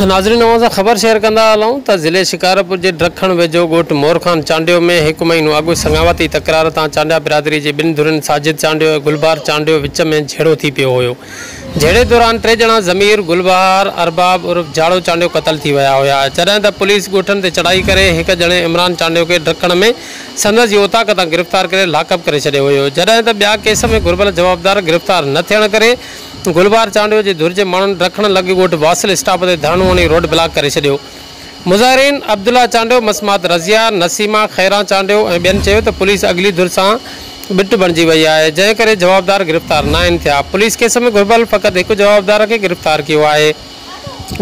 ناظرين اوهان سان خبر شيئر ڪندا هلون ته ضلعي شڪارپور جي ڊرگ کڻ ويجهو ڳوٺ مورخان چانڊيو ۾ هڪ مهينو اڳ سڱاوتي تڪرار تان چانڊيا برادري جي ٻن ڌرين ساجد چانڊيو ۽ گلبار چانڊيو وچ ۾ جهيڙو ٿي پيو هيو جهيڙي دوران ٽي ڄڻا ضمير گل بهار ارباب عرف جاڙو چانڊيو قتل ٿي ويا هيا جڏهن ته پوليس ڳوٺن تي چڙهائي ڪري هڪ ڄڻي عمران چانڊيو کي ڊڪڻ ۾ سندس ئي اوطاق تان گرفتار ڪري لاڪ اپ ڪري ڇڏيو هيو جڏهن ته ٻيا ڪيس ۾ گهربل جوابدار گرفتار نه ٿيڻ ڪري گلبهار چانڊيو جي ڌر جي ماڻهن ڊڪڻ لڳ ڳوٺ باسل اسٽاپ تي ڌرڻو هڻي روڊ بلاڪ ڪري ڇڏيو مظاهرين عبدالله چانڊيو، مسمات رضيه، نسيما، خيران چانڊيو ۽ ٻين چيو ته پوليس اڳلي ڌر سان ٻٽ بڻجي وئي آهي، جنهن ڪري جوابدار گرفتار ناهن ٿيا، پوليس ڪيس ۾ گهربل فقط هڪ جوابدار کي گرفتار ڪيو آهي،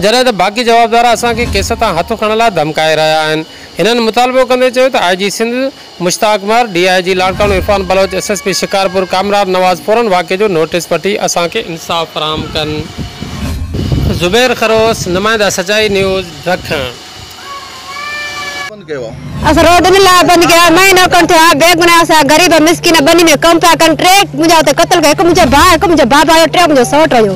جڏهن ته باقي جوابدار اسان کي ڪيس تان هٿ کڻڻ لاء ڌمڪائي رهيا آهن، هنن مطالبو ڪندي چيو ته I G Sindh Mushtaq Mahar, D I G Larkana Irfan Baloch, S S P Shikarpur Kamran Nawaz فورن واقعي جو نوٽيس وٺي اسان کي انصاف فراهم ڪن. زبير خروس، نمائنده سچائي نيوز، ڊکڻ. اسان روڊ ان لاء بند ڪيا آهن، مهينو کن ٿيو آهي، بيگناهه اسان غريب مسڪين ٻني ۾ ڪم پيا ڪن، ٽي منهنجا اتي قتل ڪيا، هڪ منهنجو ڀاء، هڪ منهنجو بابا هيو، ٽيون منهنجو سئوٽ هيو.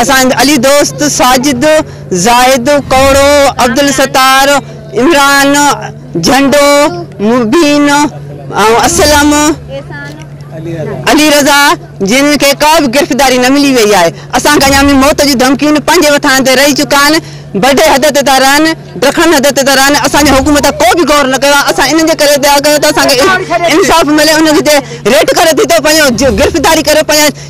اسان علي دوست، ساجد، زاهد، ڪوڙو، عبدالستار، عمران، جهنڊو، مبين ۽ اسلم، علي رضا، جن کي ڪا به گرفتاري نه ملي وئي آهي، اسان کي اڃا به موت جون ڌمڪيون پنهنجي وٿان تي رهي چڪا آهن، بڊي حد تي ٿا رهن، ڊکڻن حد تي ٿا رهن، اسان جي حڪومت ڪو به غور نه ڪيو آهي، اسان انهن جي ڪري ٿا ڪيون ته اسان کي انصاف ملي، انهن کي ريٽ ڪري ٿي ته پنهنجو گرفتاري ڪري پنهنجا.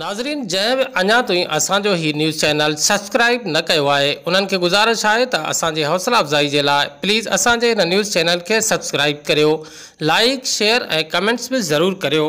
ناظرين جنهن به اڃا توهين اسان جو هي نيوز چينل سبسڪرائيب نه ڪيو آهي انهن کي گذارش آهي ته اسان جي حوصلا افزائي جي لاء پليز اسان جي هن نيوز چينل کي سبسڪرائيب ڪريو لائيڪ شيئر ۽ ڪمينٽس به ضرور ڪريو.